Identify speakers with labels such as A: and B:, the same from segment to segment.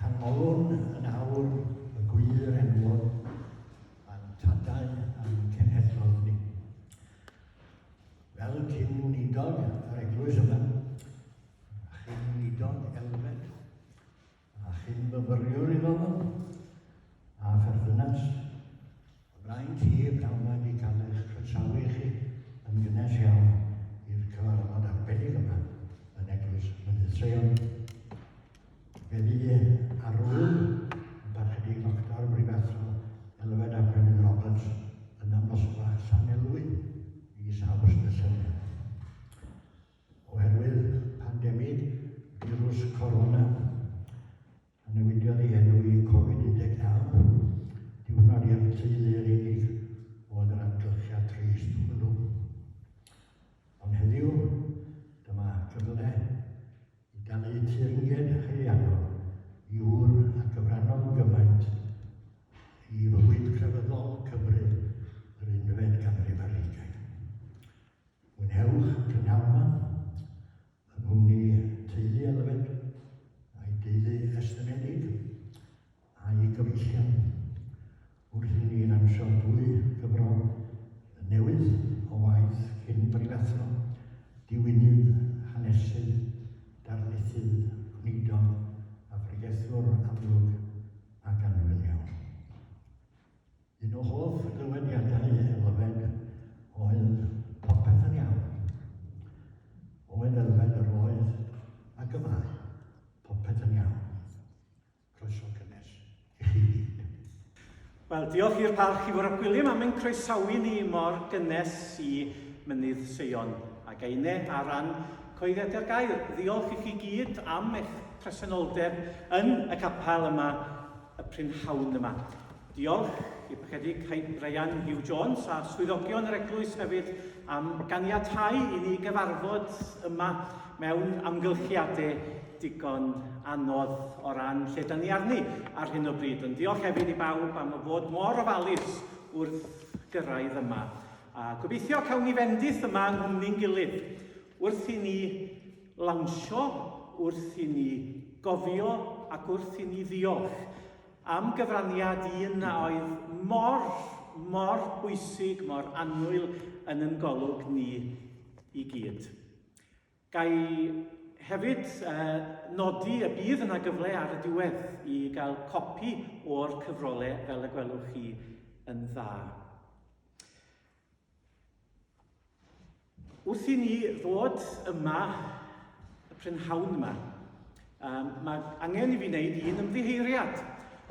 A: Canmolwn yn awr y gwir enwog a'n tadau a'n cenhedloedd ni. Fel cyn wneudog yr eglwys yma, a chyn wneudog elfed, a chyn fyfyriwr i ddofod, a pherthynas. Ymlaen ti, pnawn mae wedi cael eich croesawu chi yn gynnes iawn i'r cyfarfod arbennig yma yn Eglwys Mynydd Seion. Fe fydd arwyl y Barchedig Doctor Brifathro Elfed a Brenin Roberts yn ymosgfa Llanelwy mis Awst y llynedd. Oherwydd pandemig firws corona, a newidiodd ei enw i Covid 19, diwrnod i'r teulu yr unig oedd yr amgylchiad trist hwnnw. Ond heddiw, dyma gyfle i dalu teyrnged haelianol i ŵr a gyfrannodd gymaint i fywyd crefyddol Cymru yr unfed ganrif ar hugain. Gwnewch y prynawnau yng nghwmni teulu Elfed a'i deulu estynedig a'i gyfeillion wrth i ni lansio dwy gyfro newydd o waith cyn brifathro, diwinydd hanesydd, darlithydd, gweinidog a phregethwr amlwg ac anfynion. Un o hoff dywediadau Elfed oedd popeth yn iawn. Oedd Elfed yr oedd ac y mae. Popeth yn iawn. Croeso cynnes i chi gyd. Wel, diolch i'r Parch i Fwrop Gwilym am ein croesawu ni mor gynnes i Mynydd Seion ac Eine ar ran Coeddiadau'r Gair. Ddiolch i chi gyd am eich presenoldeb yn y capel yma y prynhawn yma. Diolch i'r Parchedig Caib Brian Hugh Jones a swyddogion yr eglwys hefyd am ganiatáu i ni gyfarfod yma mewn amgylchiadau digon anodd o ran lle da ni arni ar hyn o bryd. Ond diolch hefyd i bawb am y fod mor ofalus wrth gyrraedd yma. A gobeithio cawn ni fendith yma yng nghwmni'n gilydd wrth i ni lawnsio, wrth i ni gofio ac wrth i ni ddiolch am gyfraniad un a oedd mor, mor bwysig, mor annwyl yn yn golwg ni i gyd. Gai hefyd uh, nodi y bydd yna gyfle ar y diwedd i gael copi o'r cyfrolau fel y gwelwch chi yn dda. Wrth i ni ddod yma, y prynhawn yma, um, mae angen i fi wneud un ymddiheiriad.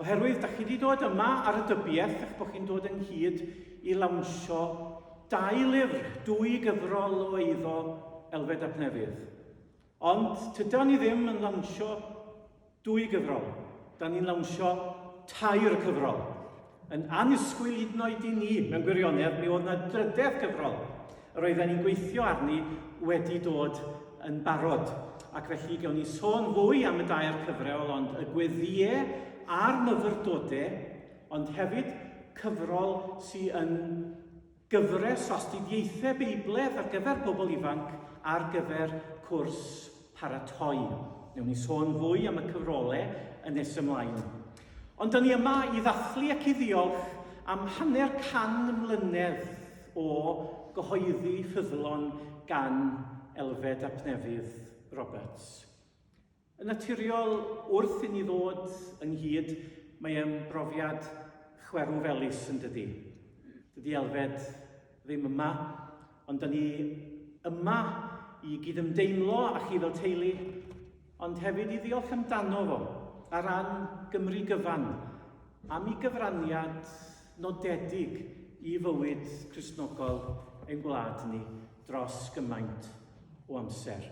A: Oherwydd, da chi wedi dod yma ar y dybiaeth eich bod chi'n dod ynghyd i lawnsio dau lyfr, dwy gyfrol o eiddo Elfed Ap Newydd. Ond tyda ni ddim yn lawnsio Dwy gyfrol. Da ni'n lawnsio tair cyfrol. Yn annisgwyl hyd yn oed i ni, mewn gwirionedd, mi oedd yna drydedd cyfrol yr oedden ni'n gweithio arni wedi dod yn barod. Ac felly gawn ni sôn fwy am y dair cyfrol, ond y gweddiau a'r myfyrdodau, ond hefyd cyfrol sy'n yn Gyfres o astudiaethau Beibledd ar gyfer pobl ifanc ar gyfer cwrs paratoi. Newn ni sôn fwy am y cyfrole yn nes ymlaen. Ond dyn ni yma i ddathlu ac i ddiolch am hanner can mlynedd o gyhoeddi ffyddlon gan Elfed ap Nefydd Roberts. Yn naturiol, wrth i ni ddod ynghyd, mae e'n brofiad chwerw felys yn dydi. Dydi Elfed ddim yma, ond da ni yma i gydymdeimlo â chi fel teulu, ond hefyd i ddiolch amdano fo, ar ran Gymru gyfan, am i gyfraniad nodedig i fywyd Cristnogol ein gwlad ni dros gymaint o amser.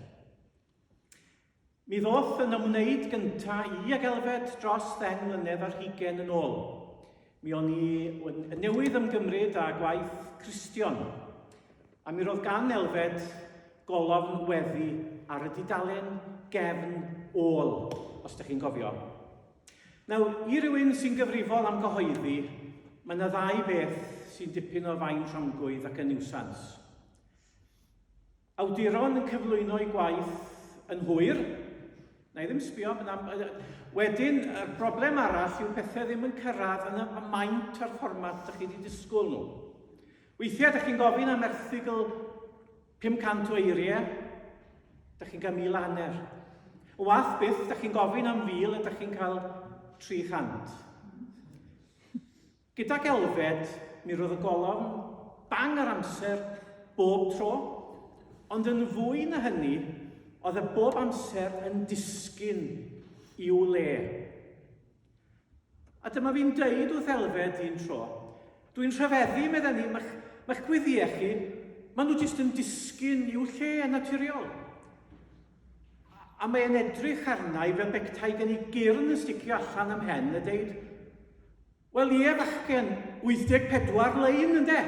A: Mi ddoth yn ymwneud gynta i ag Elfed dros ddeng mlynedd ar hugen yn ôl. Mi o'n i yn newydd ymgymryd â gwaith Cristion, a mi roedd gan Elfed golofn weddi ar y dudalen gefn ôl, os da chi'n gofio. Nawr, i rywun sy'n gyfrifol am gyhoeddi, mae yna ddau beth sy'n dipyn o fain rhongwydd ac yn niwsans. Awduron yn cyflwyno'u gwaith yn hwyr. Na i ddim sbio, wedyn y broblem arall yw pethau ddim yn cyrraedd yn y maint a'r fformat ydych chi wedi disgwyl nhw. Weithiau ydych chi'n gofyn am erthigl 500 o eiriau, ydych chi'n cael mil hanner. O wath byth, ydych chi'n gofyn am fil, ydych chi'n cael 300. Gydag Elfed, mi roedd y golofn bang ar amser bob tro, ond yn fwy na hynny, oedd e bob amser yn disgyn i'w le. A dyma fi'n dweud wrth Elfed un tro, dwi'n rhyfeddu, meddai ni, mae'ch, mae'ch gweddiau chi, maen nhw jyst yn disgyn i'w lle yn naturiol. A mae'n edrych arna i fel bectai gen i gyrn yn sticio allan am hen a deud, Wel ie, fachgen, 84 lein ynde?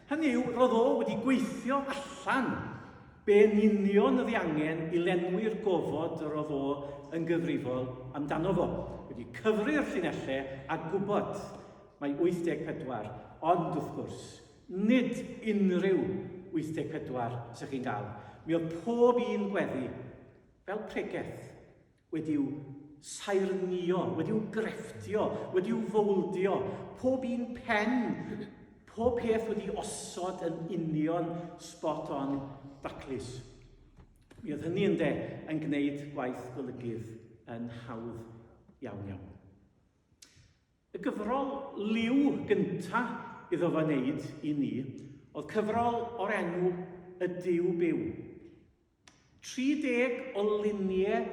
A: Hynny yw, roedd o wedi gweithio allan be yn union oedd ei angen i lenwi'r gofod yr oedd o yn gyfrifol amdano fo. Wedi cyfri'r llinellau a gwybod mae 84, ond wrth gwrs, nid unrhyw 84 sy'ch chi'n gael. Mi oedd pob un gweddi fel pregeth. wedi'u saernïo, wedi'u grefftio, wedi'u fowldio, pob un pen, pob peth wedi osod yn union spot on daclus. Mi oedd hynny yn de yn gwneud gwaith golygydd yn hawdd iawn iawn. Y gyfrol liw gyntaf iddo fo wneud i ni oedd cyfrol o'r enw Y Dyw Byw. 30 o luniau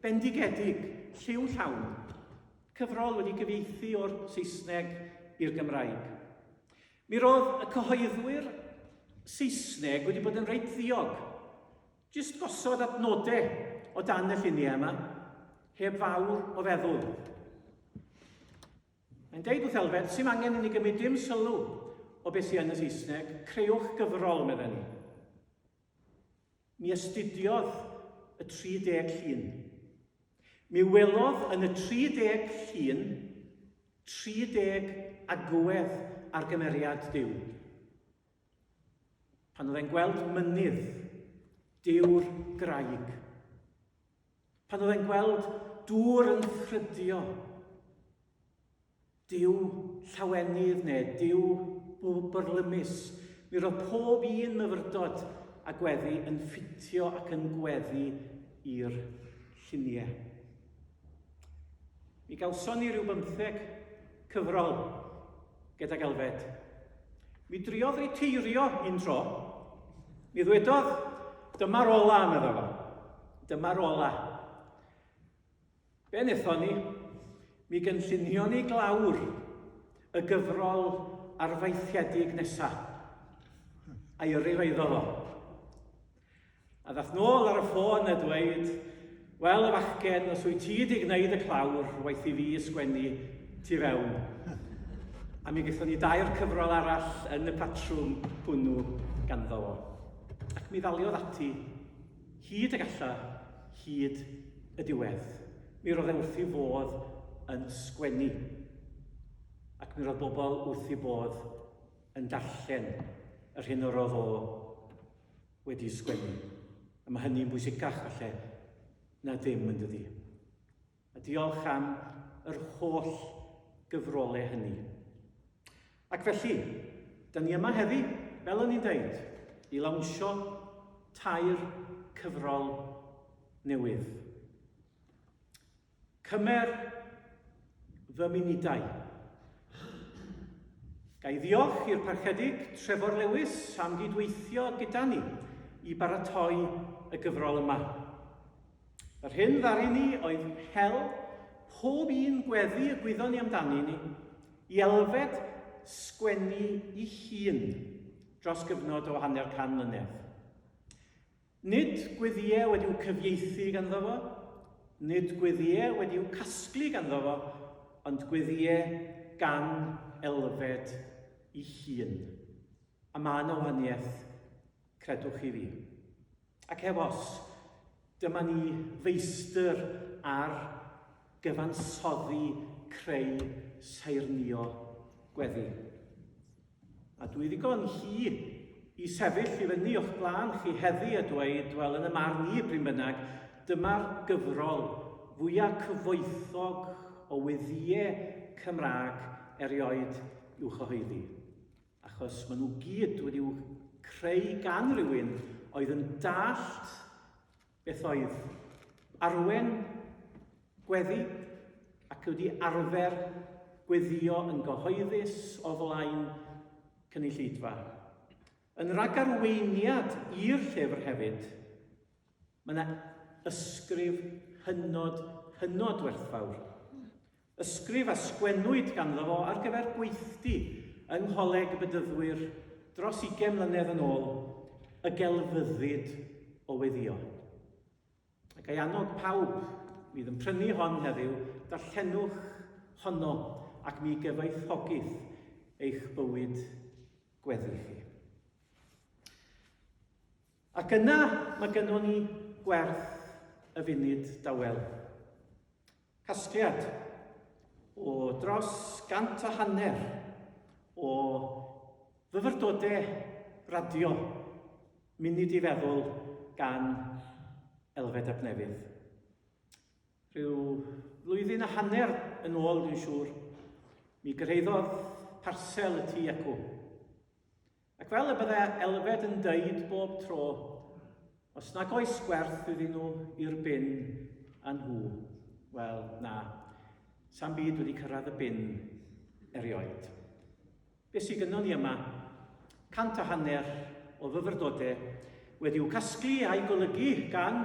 A: bendigedig, lliw llawn, cyfrol wedi gyfeithi o'r Saesneg i'r Gymraeg. Mi roedd y cyhoeddwyr Saesneg wedi bod yn reit ddiog, jyst gosod adnodau o dan y lluniau yma, heb fawr o feddwl. Mae'n deud wrth Elfed, sy'n angen i ni gymryd dim sylw o beth sy'n yn y Saesneg, creuwch gyfrol, meddyn ni. Mi astudiodd y 30 llun. Mi welodd yn y 30 llun 30 agwedd ar gymeriad Dyw. Pan oedd e'n gweld mynydd, Dyw'r graig, Pan oedd e'n gweld dŵr yn ffrydio, diw llawenydd neu diw bwrlymus, mi roedd pob un myfyrdod a gweddi yn ffitio ac yn gweddi i'r lluniau. Mi gawson ni rhyw bymtheg cyfrol gydag Elfed. Mi driodd riteirio un tro. Mi ddwedodd, dyma'r ola, medda fo. Dyma'r ola. Be wnaethon ni? Mi gynllunio ni glawr y gyfrol arfaethiedig nesaf. A'i yrru fo iddo fo. A ddath nôl ar y ffôn a dweud, Wel, y fachgen, os wyt ti wedi gwneud y clawr, waith i fi ysgwennu tu fewn. A mi gaethon ni dair cyfrol arall yn y patrwm hwnnw ganddo fo. Ac mi ddaliodd ati, hyd y galla, hyd y diwedd. Mi roedd e wrth i fodd yn sgwennu. Ac mi roedd bobl wrth i bodd yn darllen yr hyn yr oedd o wedi sgwennu, a mae hynny'n bwysicach falle na ddim yn dydi? A diolch am yr holl gyfrolau hynny. Ac felly, da ni yma heddi, fel o'n i'n dweud, i lawnsio tair cyfrol newydd. Cymer fy munudau. Ga i ddiolch i'r Parchedig Trefor Lewis am gydweithio gyda ni i baratoi y gyfrol yma. Yr hyn ddaru ni oedd hel pob un gweddi y gwyddon ni amdani ni i elfed sgwennu i hun dros gyfnod o hanner can mlynedd. Nid gweddïau wedi'u cyfieithu ganddo fo, nid gweddïau wedi'u casglu ganddo fo, ond gweddïau gan Elfed ei hun. A mae yna wahaniaeth, credwch chi fi. Ac heb os, dyma ni feistr ar gyfansoddi creu saernïo gweddi. A dwi ddigon hŷn i sefyll i fyny o'ch blaen chi heddi a dweud, wel, yn y marn i, prin bynnag, dyma'r gyfrol fwya cyfoethog o weddïe Cymraeg erioed i'w chyhoeddi. Achos maen nhw gyd wedi'w creu gan rywun oedd yn dallt Beth oedd? Arwen gweddi ac wedi arfer gweddio yn gyhoeddus o flaen cynulleidfa. Yn ragarweiniad i'r llyfr hefyd, mae yna ysgrif hynod, hynod werthfawr Ysgrif a sgwennwyd ganddo fo ar gyfer gweithdy yng Ngholeg y Bedyddwyr dros ugain mlynedd yn ôl, y gelfyddyd o weddïo. A ga i annog pawb fydd yn prynu hon heddiw, darllenwch honno ac mi gyfoethogith eich bywyd gweddi chi. Ac yna mae gynnon ni gwerth y funud dawel. Casgliad o dros gant a hanner o fyfyrdodau radio munud i feddwl gan Elfed ap Nefydd. Rhyw flwyddyn a hanner yn ôl, dwi'n siŵr, mi gyrhaeddodd parsel y tu acw. Ac fel y bydde Elfed yn dweud bob tro, os nag oes gwerth iddyn nhw i'r bin a nhw, wel na, sam byd wedi cyrraedd y bin erioed. Be sydd gynnon ni yma? Cant a hanner o fyfyrdodau Wedi'u casglu a'u golygu gan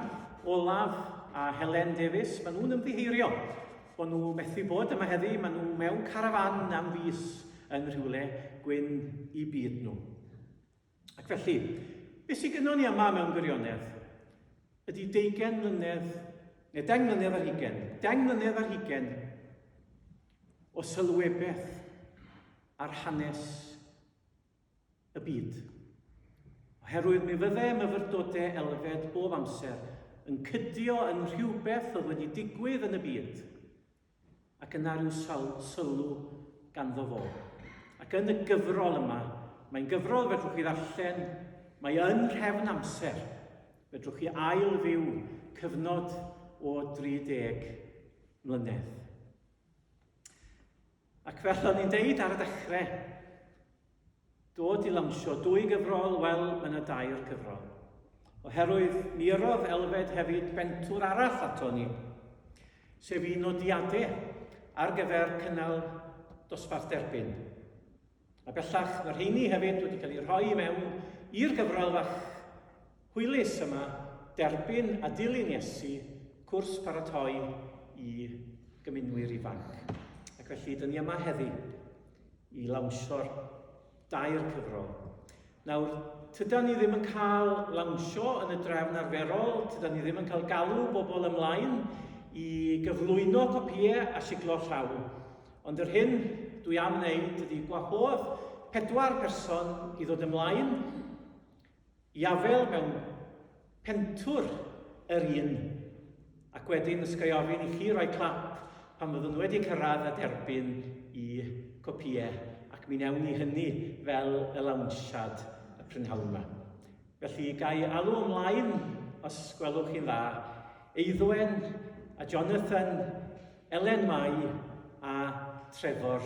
A: Olaf a Helen Davies, maen nhw'n ymddiheurio bod nhw methu bod yma heddi, maen nhw mewn carafan am fus yn rhywle gwyn i byd nhw. Ac felly, beth sy'n gynnwn ni yma mewn gwirionedd? Ydy deugen mlynedd, neu deng mlynedd ar hugen, deng mlynedd ar hugen o sylwebeth ar hanes y byd. Oherwydd mi fydde myfyrdode elfed bob amser yn cydio yn rhywbeth oedd wedi digwydd yn y byd, ac yna rhyw sawl sylw ganddo fo. Ac yn y gyfrol yma, mae'n gyfrol fedrwch chi ddarllen, mae yn rhefn amser, fedrwch chi ail fyw cyfnod o 30 mlynedd. Ac fel o'n i'n deud ar y dechrau, dod i lansio dwy gyfrol, wel, mae yna dair cyfrol. Oherwydd mi yrrodd Elfed hefyd bentwr arall ato ni, sef i nodiadau ar gyfer cynnal dosbarth derbyn. A bellach, mae rheiny hefyd wedi cael eu rhoi i mewn i'r gyfrol fach hwylus yma, Derbyn a Dilyn Iesu, cwrs paratoi i gymunwyr ifanc. Ac felly, dyn ni yma heddi i lawnsio'r dair cyfrol. Nawr, tyda ni ddim yn cael lawnsio yn y drefn arferol, tyda ni ddim yn cael galw bobl ymlaen i gyflwyno copïau a siglo'r llaw. Ond yr hyn dwi am wneud ydy gwahodd pedwar person i ddod ymlaen i afel mewn Pentwr yr un. Ac wedyn os ga'i ofyn i chi roi clap pan fyddwn wedi cyrraedd a derbyn i copïau ac mi newn ni hynny fel y lawnsiad y prynhawn yma. Felly ga'i alw ymlaen, os gwelwch chi'n dda, Eiddwen a Jonathan Elen Mai a Trevor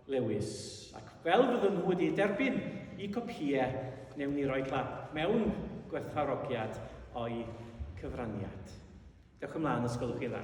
A: Lewis. Ac fel byddwn nhw wedi derbyn i copïau, newn ni roi clap mewn gwerthfarogiad o'i cyfraniad. Dewch ymlaen, os gwelwch chi dda.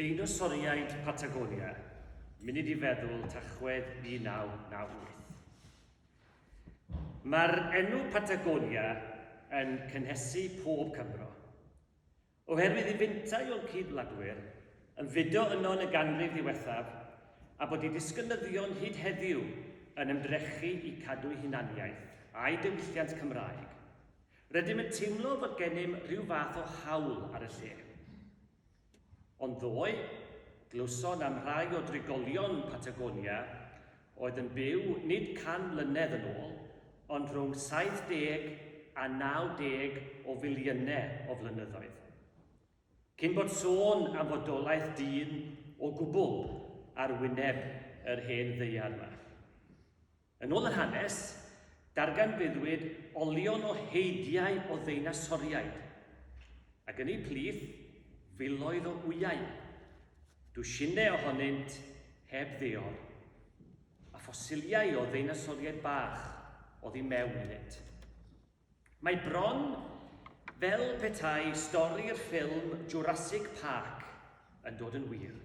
A: Deinosoriaid Patagonia, munud i feddwl Tachwedd 1998. Mae'r enw Patagonia yn cynhesu pob Cymro. Oherwydd y byntau o'n cyd-wladwyr yn fudo yno yn y ganrif ddiwethaf, a bod ei disgynyddion hyd heddiw yn ymdrechu i cadw'u hunaniaeth a'u diwylliant Cymraeg, rydym yn teimlo fod gennym rhyw fath o haul ar y lle. Ond ddoe, glywson am rai o drigolion Patagonia oedd yn byw nid 100 mlynedd yn ôl, ond rhwng 70 a 90 o filiynau o flynyddoedd. Cyn bod sôn am fodolaeth dyn o gwbl ar wyneb yr hen ddaear yma. Yn ôl yr hanes, darganfuddwyd olion o heidiau o ddeinasoriaid, ac yn eu plith, filoedd o wyau. Dwsinau ohonynt heb ddior, a ffosiliau o ddeinasoriaid bach oddi mewn iddynt. Mae bron fel petai stori'r ffilm Jurassic Park yn dod yn wir.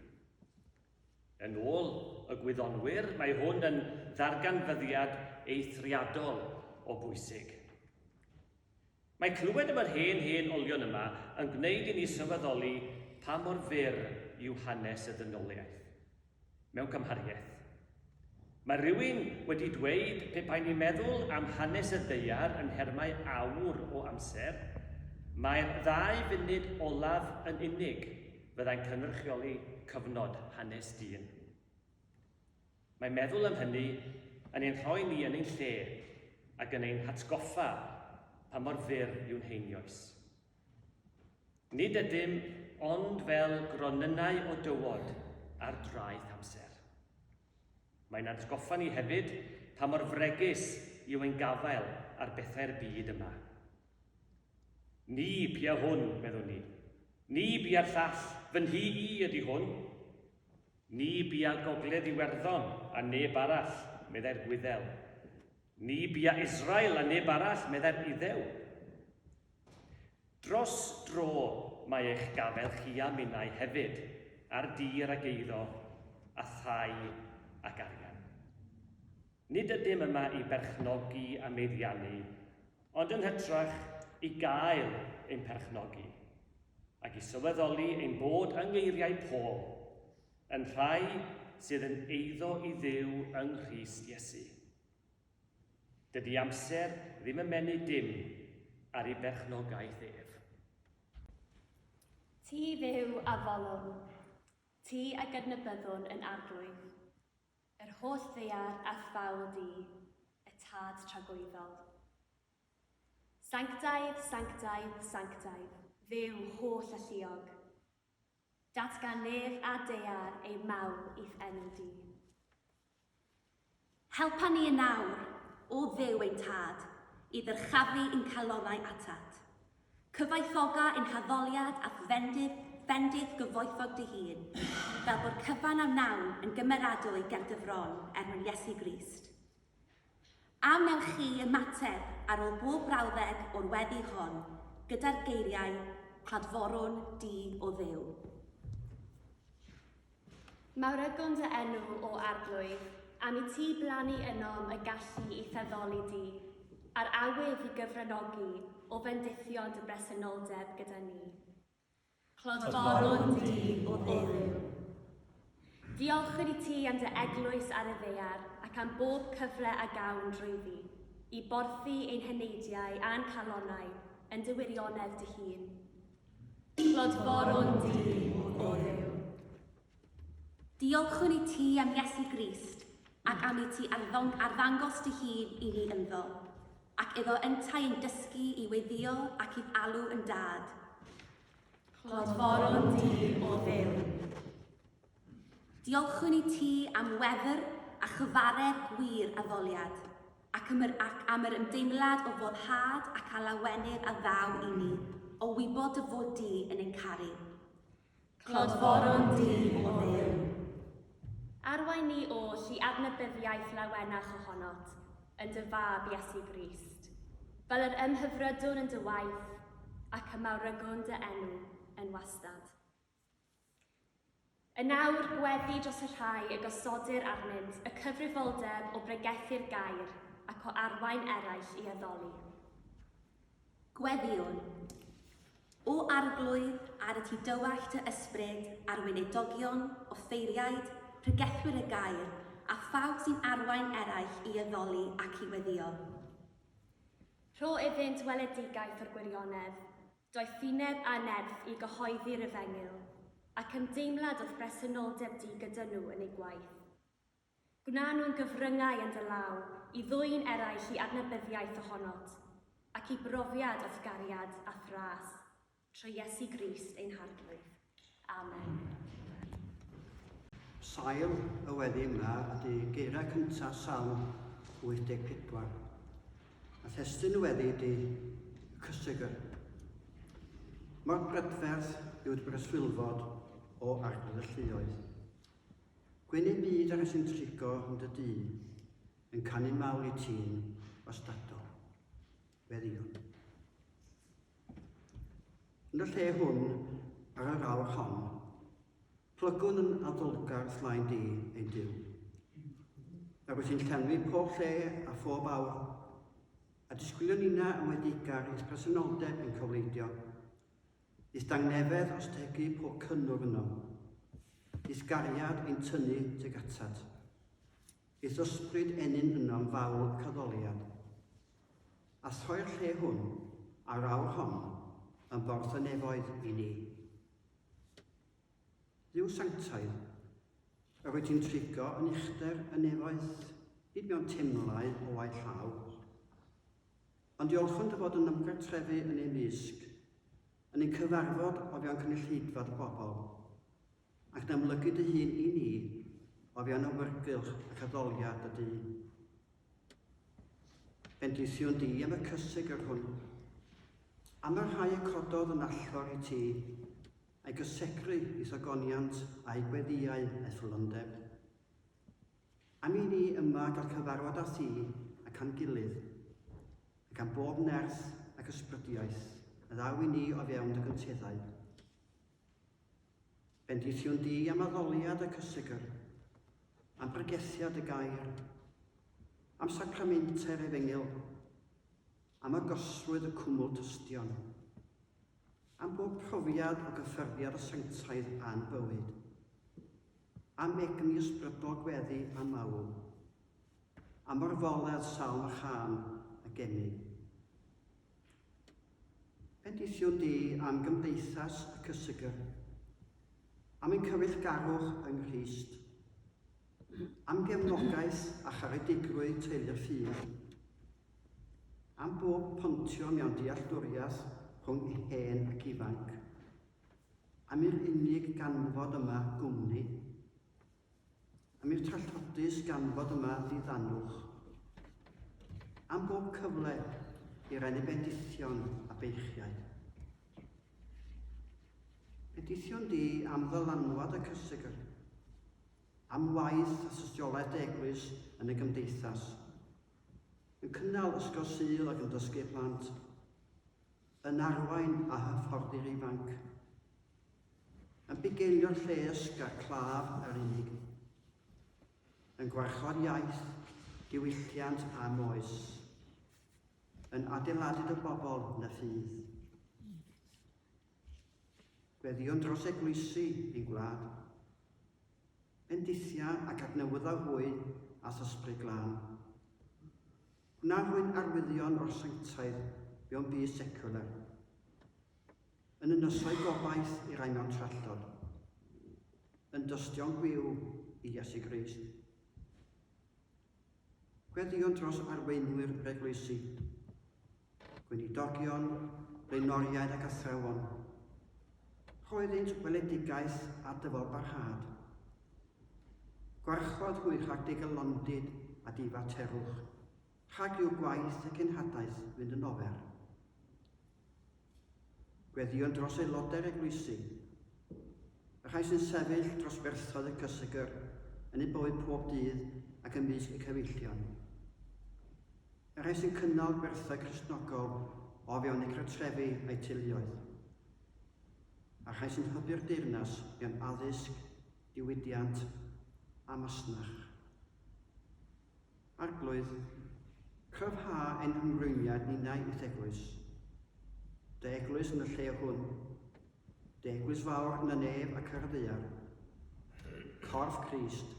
A: Yn ôl y gwyddonwyr, mae hwn yn ddarganfyddiad eithriadol o bwysig. Mae clywed am yr hen hen olion yma yn gwneud i ni sylweddoli pa mor fyr yw hanes y ddynoliaeth. Mewn cymhariaeth. Mae rhywun wedi dweud pe baen ni'n meddwl am hanes y ddaear yn nhermau awr o amser, mai'r ddau funud olaf yn unig fyddai'n cynrychioli cyfnod hanes dyn. Mae meddwl am hynny yn ein rhoi ni yn ein lle ac yn ein hatgoffa pa mor fyr yw'n heinioes. Nid ydym ond fel gronynnau o dywod ar draeth amser. Mae'n atgoffa ni hefyd pa mor fregus yw ein gafael ar bethau'r byd yma. Ni bia hwn, meddwn ni. Ni bia'r llall, fy nhŷ i ydy hwn. Ni bia Gogledd Iwerddon a neb arall, meddai'r Gwyddel. Ni bia Israel a neb arall, meddai'r Iddew. Dros dro mae eich gafael chi a minnau hefyd, ar dir ac eiddo, a thai ac arian. Nid ydym yma i berchnogi a meddiannu, Ond yn hytrach i gael ein perchnogi, ac i sylweddoli ein bod yng ngeiriau Paul, yn rhai sydd yn eiddo i Dduw yng Nghrist Iesu. Dydy amser ddim yn menu dim ar ei berchnogaeth ef. Ti fyw a folwn, ti a gydnabyddwn yn arglwydd. Yr holl ddaear a thawl di, y Tad Tragwyddol. Sanctaidd, sanctaidd, sanctaidd, Dduw holl alluog. Datgan nef a daear ei mawl i'th enw di. Helpa ni yn awr, O Dduw ein Tad, i ddyrchafu i'n calonnau atat. Cyfoethoga yn haddoliad a phendith, phendith gyfoethog dy hun, fel bod cyfan a wnawn yn gymeradwy ger dy fron, er mwyn Iesu Grist. A wnewch chi ymateb, ar ôl bob brawddeg o'r weddi hon, gyda'r geiriau, Cladforwn di, O Dduw. Mae Rygwm dy enw, O Arglwydd, am i ti blannu ynom y gallu i feddoli di, a'r awydd i gyfranogi o fendithio dy bresenoldeb gyda ni. Clodforwm di, O Dduw. Diolchwn i ti am dy Eglwys ar y ddaear ac am bob cyfle a gawn drwyddi i borthi ein heneidiau a'n calonnau yn dy wirionedd dy hun. Tlod boron di, o Dduw. Diolchwn i ti am Iesu Grist, ac am i ti arddangos dy hun i ni ynddo, ac iddo yntau yn dysgu i weddïo ac i'th alw yn Dad. Tlod boron di, o Dduw. Diolchwn i ti am wefr a chyfaredd gwir addoliad, ac am yr ac am yr ymdeimlad o foddhad ac a lawenydd a ddaw i ni o wybod dy fod di yn ein caru. Clodforon du o Dduw. Arwain ni oll i adnabyddiaeth lawenach ohonot, yn dy Fab Iesu Grist, fel yr ymhyfrydwn yn dy waith, ac y mawrygwn dy enw yn wastad. Yn awr, gweddi dros y rhai y gosodir arnynt y cyfrifoldeb o bregethu'r gair ac o arwain eraill i addoli. Gweddïwn. O Arglwydd, ar y tu dywallt dy ysbryd, ar weinidogion, offeiriaid, pregethwyr y gair, a phawb sy'n arwain eraill i addoli ac i weddïo. Rho iddynt weledigaeth o'r gwirionedd. doethineb a nerth i gyhoeddi'r efengyl, ac ymdeimlad o phresenoldeb Duw gyda nhw yn eu gwaith. Gwna nhw'n gyfryngau yn dy law i ddwyn eraill i adnabyddiaeth ohonot, ac i brofiad o'th gariad a thras, trwy Iesu Grist ein Harglwydd. Amen. Sail y weddi yma ydy geirau cyntaf Salm 84. A thestyn y weddi ydy y cysegr. Mor brydferth yw'r breswylfod o arglwydd y lluoedd. Gwyn ei byd ar y sy'n trigo yn dy dyn, yn canu mawl i ti'n ostadol. Weddion. Yn y lle hwn, ar yr awr hon, plygwn yn addolgar slaen di ein Duw. Nawr wyt ti'n llenwi pob lle a phob awr, a disgwylio nina yn wedi gar is presenoldeb yn cofleidio. Is dangnefedd os tegu pob cynnwr yno. Is gariad ein tynnu teg atat. Is ysbryd enyn yno'n fawl caddoliad. a threu'r lle hwn a'r awr hon yn borthynefoedd i ni. Dduw sanctaidd, yr wyt ti'n trigo yn uchder y nefoedd, nid mewn temlau o waith llaw, ond diolchwn dy fod yn ymgartrefu yn ei mysg, yn ein cyfarfod o fewn cynulleidfa dy bobl, Ac yn amlygu dy hun i ni o fewn awyrgylch ac addoliad dy dŷ. Bendithiwn di am y cyseg yr hwn, am y rhai y cododd yn allor i ti, a'i gysegru i thogoniant a'i gweddiau effyllondeb. Am i ni yma gael cyfarfod â thi ac a'n gilydd, ac am bob nerth ac ysbrydiaeth a ddaw i ni o fewn dy gynteddau. Bendiciwn di am addoliad y cysegr, am bregesiad y gair, am sacramentau'r efengyl, am agosrwydd y cwmwl tystion, am bob profiad o gyffyrddiad y sanctaidd a'n bywyd, am egni ysbrydol gweddi a mawl, am orfoledd salm a chân y geni. Petition di am gymdeithas y cysegr, am ein cyfeillgarwch yng Nghrist, am gefnogaeth a charedigrwydd teulu'r ffydd, am bob pontio mewn dealltwriaeth rhwng hen ac ifanc, am i'r unig ganfod yma gwmni, Am i'r trallodus ganfod yma ddiddanwch. Am bob cyfle i renu bendithion a beichiau. Bendithion di am ddylanwad y cysegr. Am waith a systiolaeth eglwys yn y gymdeithas. Yn cynnal ysgol sydd ac yn dysgu plant. yn arwain a hyfforddi'r ifanc, yn bugeilio'r lles ger claf yr unig, yn gwarchod iaith, diwylliant a moes, yn adeiladyd y bobl na ffydd. Gweddion dros eglwysi ein gwlad, bendithia ac adnewyddau hwy a thysbryd glân. Gwna hwy'n arwyddion o'r sanctaidd mewn byd seciwlar. Yn y nysoedd gobaith i rai mewn trallod. Yn dystion gwiw i Iesu Grist. Gweddïwn dros arweinwyr yr eglwysi, gweinidogion, blaenoriaid ac athrawon. Rhoeddynt weledigaeth a dyfalbarhad Gwarchod hwy rhag dy galondid a dy faterwch, rhag i'w gwaith y cenhadaeth fynd yn ofer. Gweddïo dros aelodau'r eglwysi, y rhai sy'n sefyll dros ferthoedd y cysegr yn eu bywyd pob dydd ac ymysg y cyfeillion, y rhai sy'n cynnal gwerthau Cristnogol o fewn eu cartrefi a'u teuluoedd, a rhai sy'n hybu'r deyrnas gan addysg, diwydiant a masnach. Arglwydd, cryfha ein hymrwymiad ninnau i'th Eglwys. Dy Eglwys yn y lle hwn. Dy Eglwys fawr yn y nef ac ar y ddaear. Corff Crist.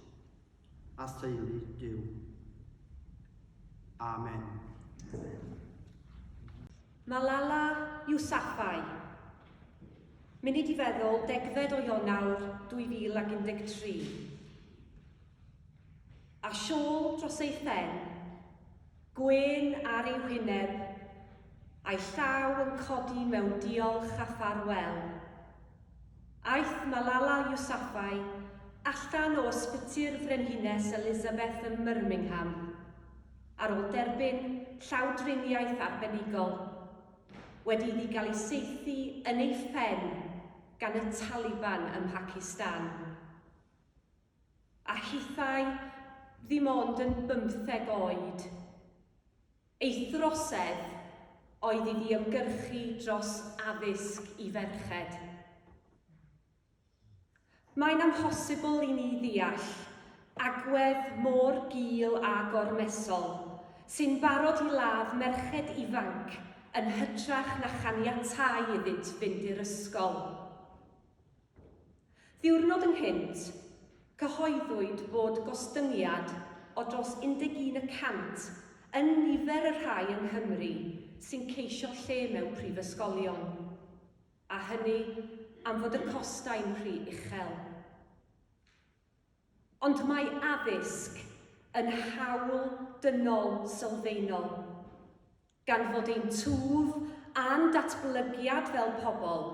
A: a theulu Duw. Amen. Malala Yousafzai. Munud i feddwl degfed o Ionawr 2013. A siôl dros ei phen, gwyn ar ei wyneb, a'i llaw yn codi mewn diolch a ffarwel. Aeth Malala Yousafzai allan o Ysbyty'r Frenhines Elizabeth ym Myrmingham ar ôl derbyn llawdriniaeth arbenigol, wedi iddi gael ei saethu yn ei phen gan y Taliban ym Mhacistan. A hithau ddim ond yn bymtheg oed. Ei throsedd oedd iddi ymgyrchu dros addysg i ferched. Mae'n amhosibl i ni ddeall agwedd mor gul a gormesol sy'n barod i ladd merched ifanc yn hytrach na chaniatáu iddynt fynd i'r ysgol. Ddiwrnod ynghynt, cyhoeddwyd fod gostyngiad o dros 11 y cant yn nifer y rhai yng Nghymru sy'n ceisio lle mewn prifysgolion, a hynny am fod y costau'n rhy uchel. Ond mae addysg yn hawl dynol sylfaenol. Gan fod ein twf a'n datblygiad fel pobl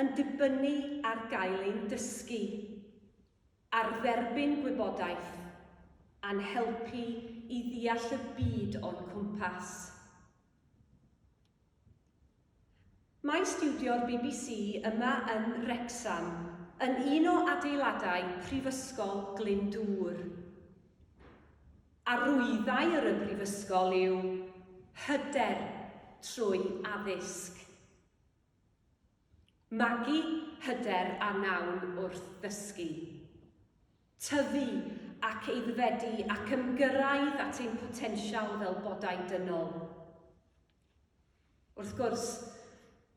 A: yn dibynnu ar gael ein dysgu, ar dderbyn gwybodaeth, a'n helpu i ddeall y byd o'n cwmpas. Mae stiwdio'r bbc yma yn Wrecsam, yn un o adeiladau Prifysgol Glyndŵr. Arwyddai yr y Brifysgol yw hyder trwy addysg. Magu hyder a nawn wrth ddysgu. Tyfu ac eiddfedu ac ymgyrraedd at ein potensial fel bodau dynol. Wrth gwrs,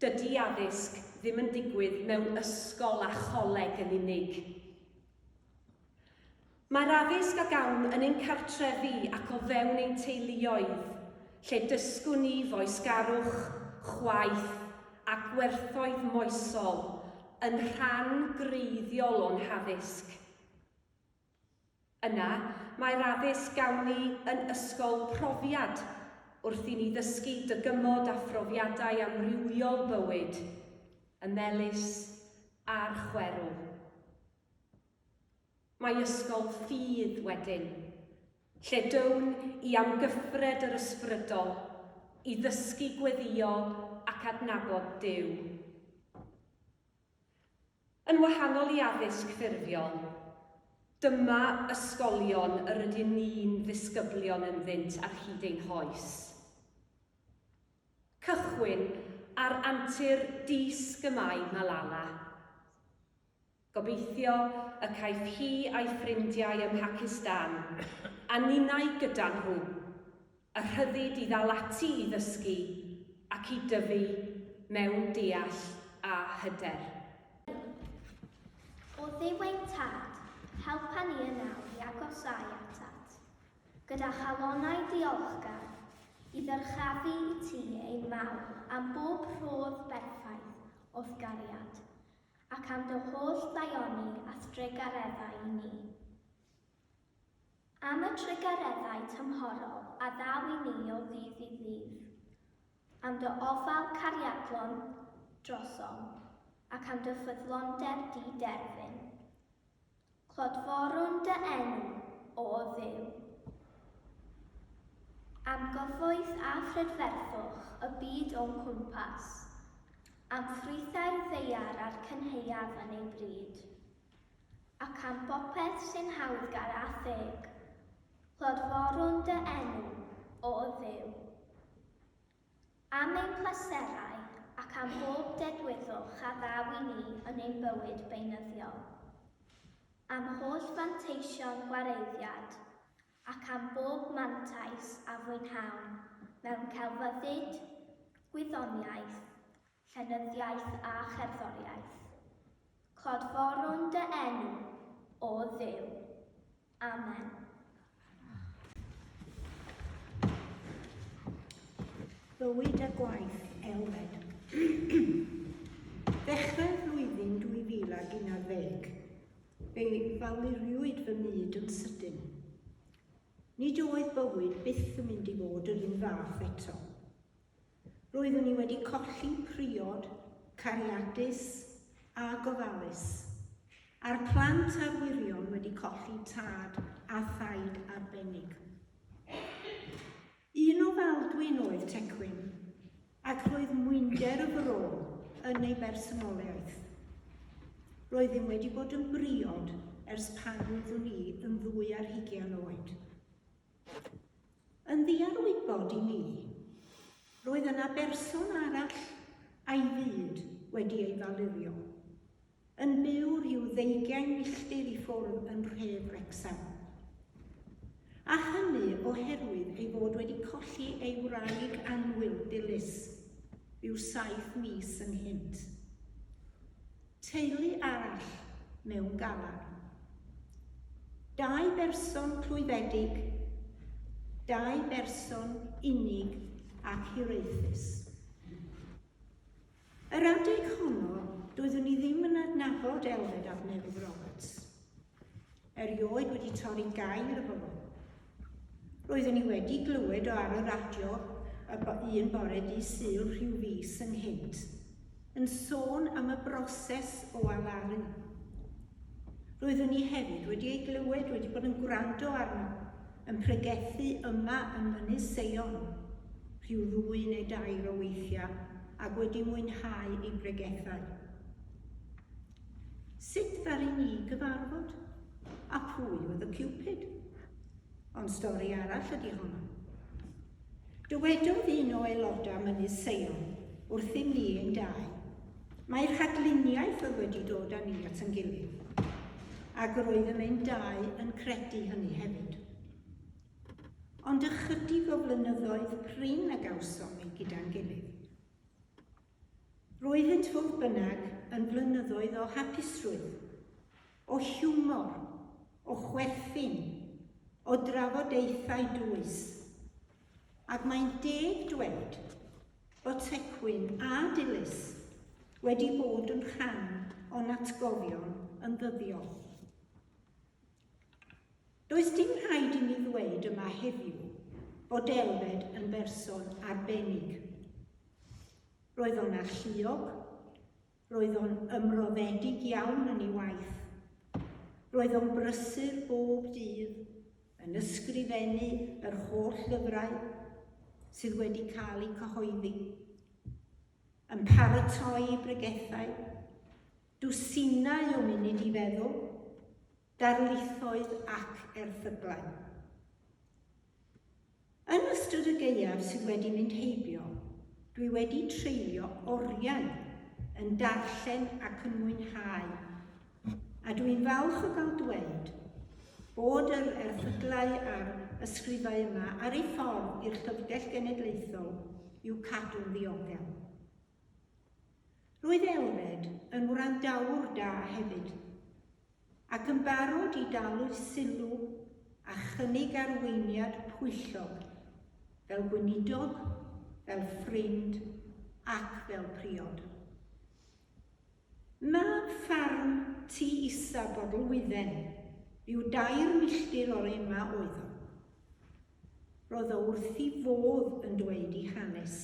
A: dydy addysg ddim yn digwydd mewn ysgol a choleg yn unig. Mae'r addysg a gawn yn ein cartrefi ac o fewn ein teuluoedd, lle dysgwn ni foesgarwch, chwaeth a gwerthoedd moesol yn rhan greiddiol o'n haddysg. Yna, mae'r addysg gawn ni yn ysgol profiad wrth i ni ddysgu dygymod a phrofiadau amrywiol bywyd, y melys a'r chwerw. Mae ysgol ffydd wedyn, lle down i am gyffred yr ysbrydol i ddysgu gweddïo ac adnabod Duw. Yn wahanol i addysg ffurfiol, dyma ysgolion yr ydyn ni'n ddisgyblion ynddynt ar hyd ein hoes. Cychwyn ar antur dysg y mae Malala. Gobeithio y caiff hi a'i ffrindiau ym Mhacistan a ninnau gyda nhw. Y rhyddid i ddal ati i ddysgu ac i dyfu mewn deall a hyder. O Dduw ein Tad, helpa ni yn awr i agosáu atat, gyda chalonnau diolchgar, i ddyrchafu i Ti ein mawl am bob rhodd berffaith o'th gariad, ac am Dy holl ddaioni a'th drugareddau i ni. Am y trugareddau tymhorol a ddaw i ni o ddydd i ddydd. Am dy ofal cariadlon drosom, ac am dy ffyddlondeb di-derfyn. Clodforwn dy enw, O Dduw. Am gyfoeth a phrydferthwch y byd o'n cwmpas. Am ffrwythau'r ddaear a'r cynhaeaf yn ei bryd. Ac am bopeth sy'n hawddgar a theg, clodforwn dy enw, O Dduw. Am ein pleserau ac am bob dedwyddwch a ddaw i ni yn ein bywyd beunyddiol. Am holl fanteision gwareiddiad, ac am bob mantais a fwynhawn mewn celfyddyd, gwyddoniaeth, Llenyddiaeth a Cherddoriaeth. Clodforwn dy enw, O Dduw. Amen. Bywyd a Gwaith, Elfed. Ddechrau flwyddyn 2011, fe faluriwyd fy myd yn sydyn. Nid oedd bywyd byth yn mynd i fod yr un fath eto. Roeddwn i wedi colli priod, cariadus a gofalus, a'r plant a'r wyrion wedi colli tad a thaid arbennig. Un o Faldwyn oedd Tecwyn, ac roedd mwynder y fro yn ei bersonoliaeth. Roeddwn wedi bod yn briod ers pan roeddwn i yn ddwy ar hugian oed. Yn ddiarwybod i mi, roedd yna berson arall a'i fyd wedi ei falurio, yn byw rhyw ddeugain milltir i ffwrdd yn nhref Wrecsam. A hynny oherwydd ei fod wedi colli ei wraig annwyl dilys, ryw saith mis ynghynt. Teulu arall mewn galar. Dau berson clwyfedig, dau berson unig ac hiraethus. Yr adeg honno, doeddwn i ddim yn adnabod Elfed ap Newydd Roberts. Erioed wedi torri gair efo fo. Roeddwn i wedi glywed o ar y radio y bo un bore di Sul rhyw fis ynghynt, yn sôn am y broses o alaru. Roeddwn i hefyd wedi ei glywed wedi bod yn gwrando arno, yn pregethu yma yn Mynydd Seion, rhyw ddwy neu dair o weithiau, ac wedi mwynhau ei bregethau. Sut ddaru ni gyfarfod? A pwy oedd y Cupid? Ond stori arall ydy honno. Dywedodd un o aelodau Mynydd Seion wrthym ni ein dau, mae rhagluniaeth oedd wedi dod â ni at yn gilydd, ac roeddem ein dau yn credu hynny hefyd. Ond ychydig o flynyddoedd prin a gawsom ni gyda'n gilydd. Roeddynt fodd bynnag yn flynyddoedd o hapusrwydd, o hiwmor, o chwerthin, o drafodaethau dwys. Ac mae'n deg dweud bod Tecwyn a Dilys wedi bod yn rhan o'n atgofion yn ddyddiol. Does dim rhaid i mi ddweud yma heddiw bod Elfed yn berson arbennig. Roedd o'n alluog, roedd o'n ymroddedig iawn yn ei waith, roedd o'n brysur bob dydd yn ysgrifennu yr holl lyfrau sydd wedi cael eu cyhoeddi, yn paratoi bregethau, Dwsinau o munud i feddwl, darlithoedd ac erthyglau. Yn ystod y gaeaf sydd wedi mynd heibio, dwi wedi treulio oriau yn darllen ac yn mwynhau, a dwi'n falch o gael dweud bod yr erthyglau a'r ysgrifau yma ar ei ffordd i'r Llyfrgell Genedlaethol i'w cadw'n ddiogel. Roedd Elred yn wrandawr da hefyd, ac yn barod i dalu sylw a chynnig arweiniad pwyllog, fel gweinidog, fel ffrind ac fel priod. Mab ffarm Tŷ Isa Bodelwydden, ryw dair milltir o'r Ema oedd o. Roedd o wrth ei fodd yn dweud ei hanes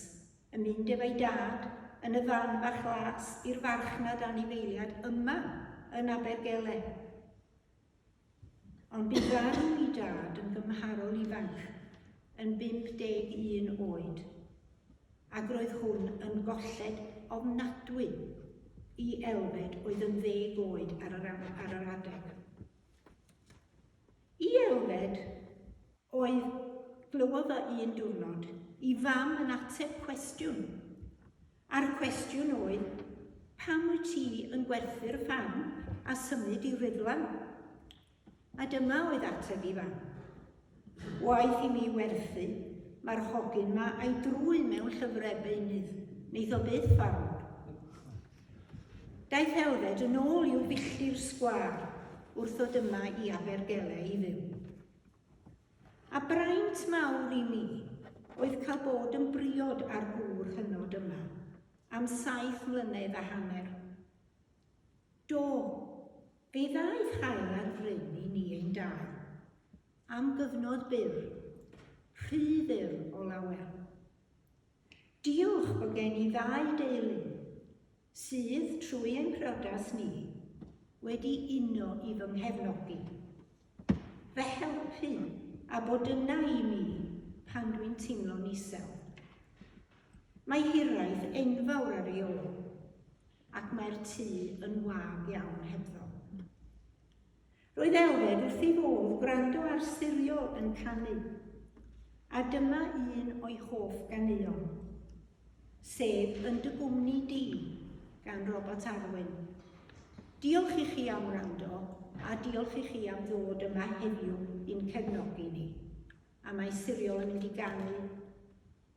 A: yn mynd efo'i dad yn y fan bach las i'r farchnad anifeiliad yma yn Abergele. Ond bu farw i dad yn gymharol ifanc, yn 51 oed, ac roedd hwn yn golled ofnadwy i Elfed oedd yn ddeg oed ar yr, ar yr adeg. I Elfed, Oedd, glywodd o un diwrnod, i fam yn ateb cwestiwn. A'r cwestiwn oedd, pam wyt ti yn gwerthu'r ffarm a symud i Rhuddlan? A dyma oedd ateb i fam. Waeth i mi werthu, mae'r hogyn ma a'i drwy mewn llyfrau beunydd, neith o byth farw. Daeth Elfed yn ôl i'w billtir sgwâr wrth ddod yma i Abergele i fyw. A braint mawr i mi oedd cael bod yn briod â'r gŵr hynod yma am saith mlynedd a hanner. Do, fe ddaeth haul ar fryn i ni ein dau. Am gyfnod byr. Rhy fyr o lawer. Diolch bod gen i ddau deulu. sydd, trwy ein priodas ni, wedi uno i fy nghefnogi, fy helpu a bod yna i mi pan dwi'n teimlo'n isel. Mae hiraeth enfawr ar ei ôl, ac mae'r tŷ yn wag iawn hebddo. Roedd Elfed wrth ei fodd gwrando ar Sirio yn canu, a dyma un o'i hoff ganeuon, sef Yn dy gwmni di gan Robert Arwyn. Diolch i chi am wrando a diolch i chi am ddod yma heddiw i'n cefnogi ni. A mae Sirio yn mynd i ganu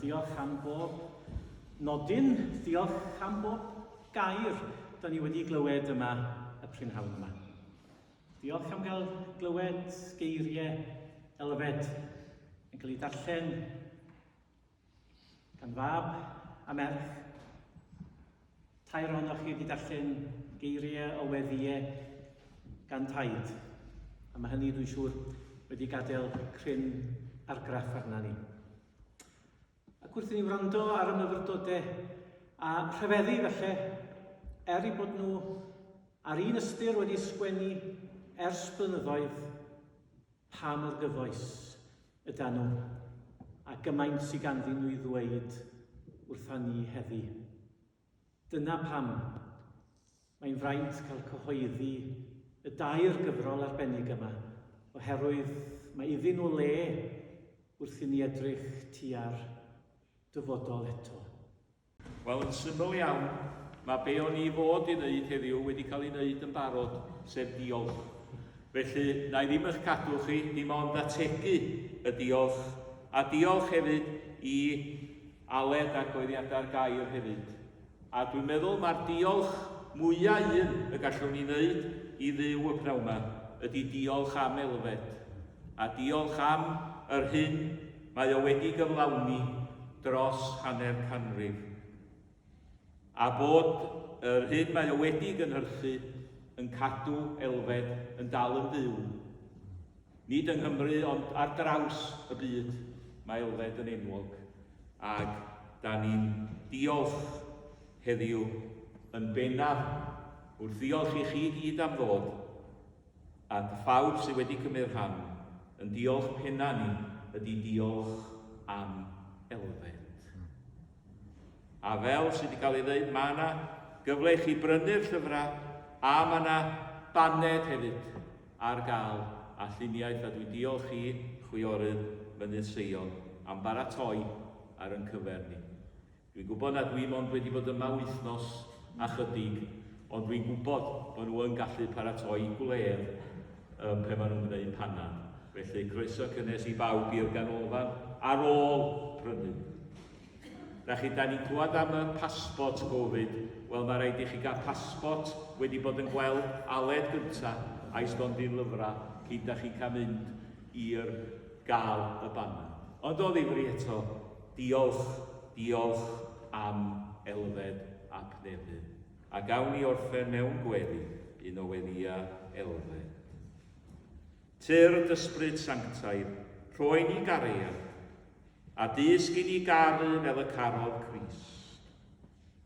A: Diolch am bob nodyn, diolch am bob gair da ni wedi glywed yma y prynhawn yma. Diolch am gael glywed geiriau elfed yn cael ei darllen Gan fab a merch, tair ohonoch chi wedi darllen geiriau o weddïau gan Taid, a mae hynny, dwi'n siŵr, wedi gadael cryn argraff arna ni. Ac wrth i ni wrando ar y myfyrdodau a rhyfeddu felly, er i bod nhw ar un ystyr wedi sgwennu ers blynyddoedd, Pa mor gyfoes ydan nhw, a gymaint sy ganddyn nhw i ddweud wrtha ni heddi. Dyna pam mae'n fraint cael cyhoeddi y dair gyfrol arbennig yma, oherwydd mae iddyn nhw le wrth i ni edrych tua'r dyfodol eto. Wel, yn syml iawn, mae be o'n i fod i ddeud heddiw wedi cael ei wneud yn barod, sef diolch. Felly, na i ddim eich cadw chi, dim ond ategu y diolch, a diolch hefyd i Aled ar goeddiadau'r gair hefyd. A dwi'n meddwl mae'r diolch mwyaf un y gallwn ni wneud i ddiw y pnawn yma ydy diolch am Elfed, a diolch am yr hyn Mae o wedi gyflawni dros hanner canrif, a bod yr hyn mae o wedi gynhyrchu yn cadw elfed yn dal yn fyw. Nid yng Nghymru ond ar draws y byd mae elfed yn enwog, ac da ni'n diolch heddiw yn bennaf wrth ddiolch i chi gyd am ddod. At phawb sydd wedi cymryd rhan, yn diolch penna ni ydi diolch am elfed. A fel sydd wedi cael ei ddeud, mae yna gyfle i chi brynu'r llyfrau a mae yna baned hefyd ar gael a lluniaeth a dwi'n diolch i Chwiorydd Mynydd Seion am baratoi ar yn cyfer ni. Dwi'n gwybod nad dwi mond wedi bod yma wythnos a chydig, ond dwi'n gwybod bod nhw yn gallu paratoi gwledd ym pe maen nhw'n gwneud panad. Felly, croeso cynnes i bawb i'r ganolfan ar ôl prynu. Da chi, da ni'n clywed am y passport Covid. Wel, mae rhaid i chi gael passport wedi bod yn gweld Aled gynta a'i stondin lyfrau cyn da chi'n cael mynd i'r gael y banad. Ond o ddifri eto, Diolch, diolch am elfed a cnefyd. A gawn ni orffen mewn gweddi, un o weddia elfed. Tyrd d'ysbryd sanctaidd, rhoi ni gariad, a dysg i ni garu fel y carodd Crist.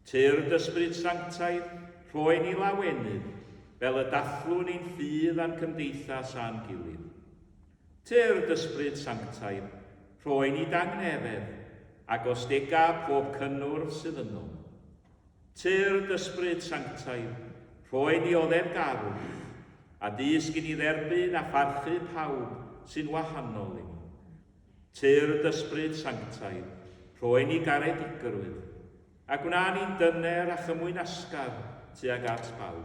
A: Tyrd d'ysbryd sanctaidd, rhoi ni lawenydd, fel y dathlwn ein ffydd a'n cymdeithas a'n gilydd. Tyrd d'Yspryd Sanctaidd, rhoi ni dangnefedd, ac os dega pob cynnwrf sydd ynddo. Tyrd d'Yspryd Sanctaidd, rhoi ni oddefgarwch, a dysg i ni dderbyn a pharchu pawb sy'n wahanol i ni. Tyrd d'Yspryd Sanctaidd, rhoi ni garedigrwydd, a gwna ni'n dyner a chymwynasgar tuag at bawb.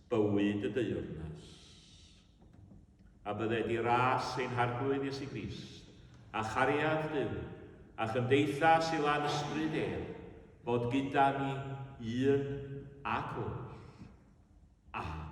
A: bywyd y deyrnas. A bydde di ras ein Harglwydd Iesu Grist, a chariad Duw, a chymdeithas i lan ysbryd ef, fod gyda ni un ac oll. Amen.